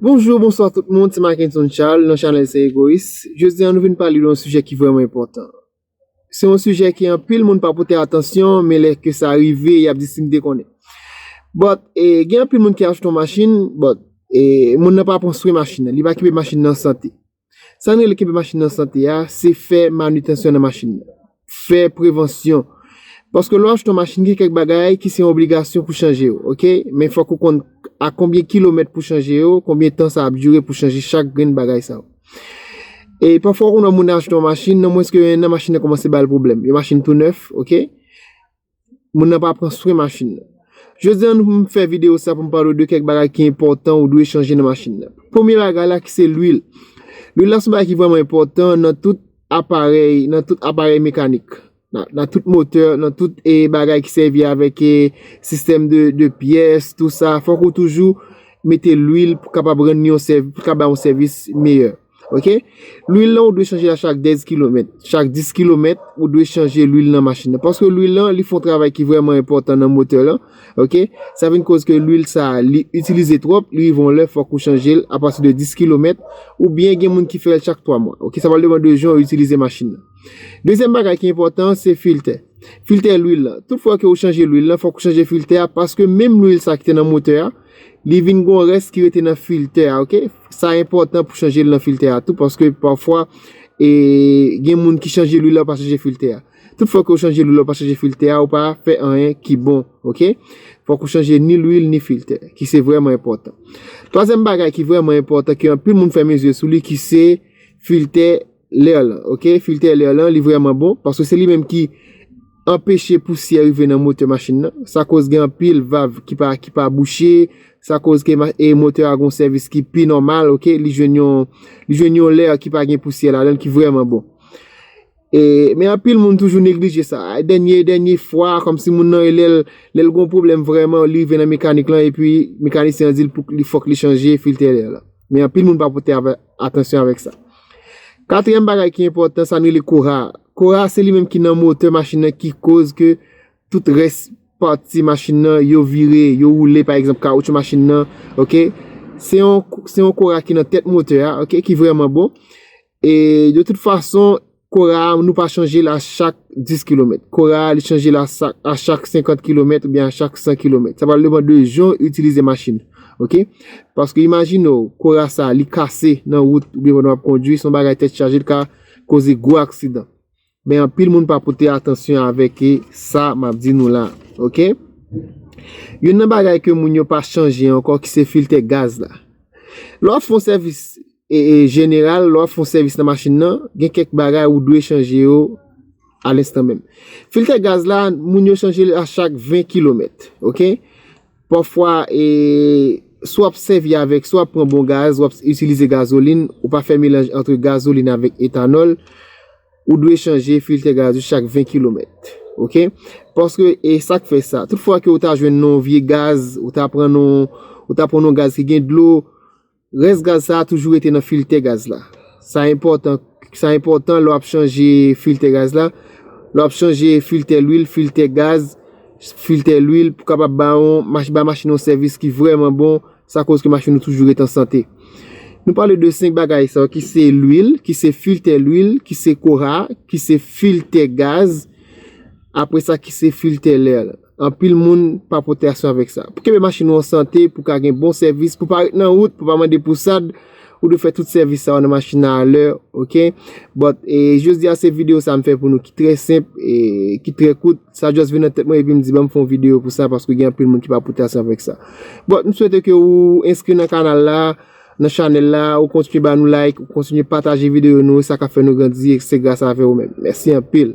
Bonjou, bonswa tout moun, se Mackenson Charles nan chanèl Se Egoyis. Jodi an nou vin pale de yon sijè ki vrèman enpòtan. Se yon sijè ke anpil moun pa pote atansyon, men lè ke sa rive, y ap di si m te konnen. But, gen anpil moun ki achte yon machin, but, moun nan pa pran swen machin nan, li pa kenbe machin nan an sante. Sa nou rele kenbe machin an sante a, se fè manitansyon nan machin nan. Fè prevansyon. Paske lè w achte yon machin gen kèk bagay ki se yon obligasyon pou chanje yo, ok. Men fòk ou konn a konbyen kilomèt pou chanje yo, konbyen tan sa ap dire pou chanje chak grenn bagay sa yo. E pafwa ou konn wè moun achte yon machin, nan mwens ke yon enn nan machin nan kòmanse ba l pwoblèm. Yon machin tou nèf, ok. Moun nan pa pran swen machin nan. Jodi an m fè videyo sa pou m pale w de kèk bagay ki enpòtan ou dwe chanje nan machin nan. Premye bagay la ki se lwil. Lwil la se yon bagay ki vrèman enpòtan nan tout aparèy, nan tout aparèy mekanik. Nan tout motè, nan tout bagay ki sèvi avèk sistèm de pyès, tout sa. Fòk ou toujou mete lwil pou kapab rann yon sèvis, pou l ka bay yon sèvis meyè. Ok lwil lan ou dwe chanje a chak 10 kilomèt chak 10 kilomèt ou dwe chanje lwil nan machin nan paske lwil lan li fon travay ki vreman enpòtan nan motè lan ok sa vin koz ke lwil sa li itilize twòp li rive yon lè fòk ou chanjel a pati de 10 kilomèt ou byen gen moun ki fèl chak 3 mwa ok sa pral depan de jan ou itilize machin nan dezyèm bagay ki enpòtan se filtè filtè lwil lan tout fwa ke ou chanje lwil lan fòk ou chanje filtè a paske menm lwil sa ki te nan motè a Li vin gon rès ki rete nan filtè a ok sa enpòtan pou chanje lwi nan filtè a tou paske pafwa e gen moun ki chanje lwi la pa chanje filtè a tout fwa ke ou chanje lwi la ou pa chanje filtè a ou pa fè anyen ki bon ok fòk ou chanje ni lwi ni filtè ki se vrèman enpòtan twazèm bagay ki vrèman enpòtan ki anpil moun fèmen zye sou li ki se filtè L'air lan ok filtè lè lan li vrèman bon paske se li menm ki Anpeche pousyè rive nan motè machin nan sa koz gen anpil vav ki pa ki pa bouche sa koz ke e motè a gon sèvis ki pi nòmal ok li jwenn yon li jwenn yon lè ki pa gen pousyè ladann ki vrèman bon e men anpil moun toujou neglije sa a dènye dènye fwa kòmsi moun nan e lèl lèl gon pwoblèm vrèman li rive nan mekanik lan epi mekanisyen an di l pou li fòk li chanje filtè lè lan men anpil moun pa pote avè Atansyon avèk sa. Katriyèm bagay ki enpòtan sa nou rele kora a. Kora a se li menm ki nan motè machin nan ki koz ke tout rès pati machin nan yo vire, yo woule pa egzanp kawoutchou machin nan, ok. Se yon kora ki nan tèt motè a, ok, ki vrèman bon. E de tout fason. Kora a nou pa chanje l a chak 10 kilomèt. Kora a li chanje l a chak 50 kilomèt oubyen a chak 100 kilomèt. Sa pral depan de jan ou itilize machin ou. Ok? Paske imajine w, kora sa a li kase nan wout oubyen pandan w ap kondwi, se yon bagay tèt chaje li ka koze gwo aksidan. Men anpil moun pa pote atansyon avèk e sa m ap di nou la a. Ok? Youn nan bagay ke moun yo pa chanje ankò ki se filtè gaz la. Lè w ap fè yon sèvis. jeneral, lè w ap fè yon sèvis nan machin nan, gen kèk bagay ou dwe chanje yo a lenstan menm. Filtè gaz la, moun yo chanje l a chak 20 kilomèt, ok? Pafwa, si w ap sèvi avèk, si w ap pran bon gaz, w ap itilize gazolin, ou pa fè melanj antre gazolin avèk etanòl, ou dwe chanje filtè gaz yo chak 20 kilomèt, ok? Paske, e sa k fè sa? Tout fwa ke ou ta jwenn yon vye gaz, ou ta pran yon gaz ki gen dlo, Rès gaz sa a toujou rete nan filtè gaz la. Sa enpòtan Sa enpòtan lè w ap chanje filtè gaz la, lè w ap chanje filtè lwil, filtè gaz, filtè lwil pou kapab ba yon mach ba machin yon sèvis ki vrèman bon sa koz ke machin nou toujou ret an sante. Nou pale de 5 bagay sa yo ki se lwil, ki se filtè lwil, ki se kora, ki se filtè gaz apre sa ki se filtè lè. Anpil moun pa pote asyon avèk sa. Pou kenbe machin ou an sante, pou ka gen bon sèvis, pou pa ret nan wout, pou pa mande pou sad, ou dwe fè tout sèvis sa yo nan machin nan a lè, ok? But, e jodi a se video sa m fè pou nou ki trè senp, e ki trè kout, sa just vin nan tèt mwen epi m di banm fè yon video pou sa paske gen anpil moun ki pa pote asyon avèk sa. But, m swete ke ou enskri nan kanal la, nan chanèl la, ou kontinye ba nou like, ou kontinye pataje video nou, sa ka fè nou grandi e se gras avè ou menm. Mèsi anpil!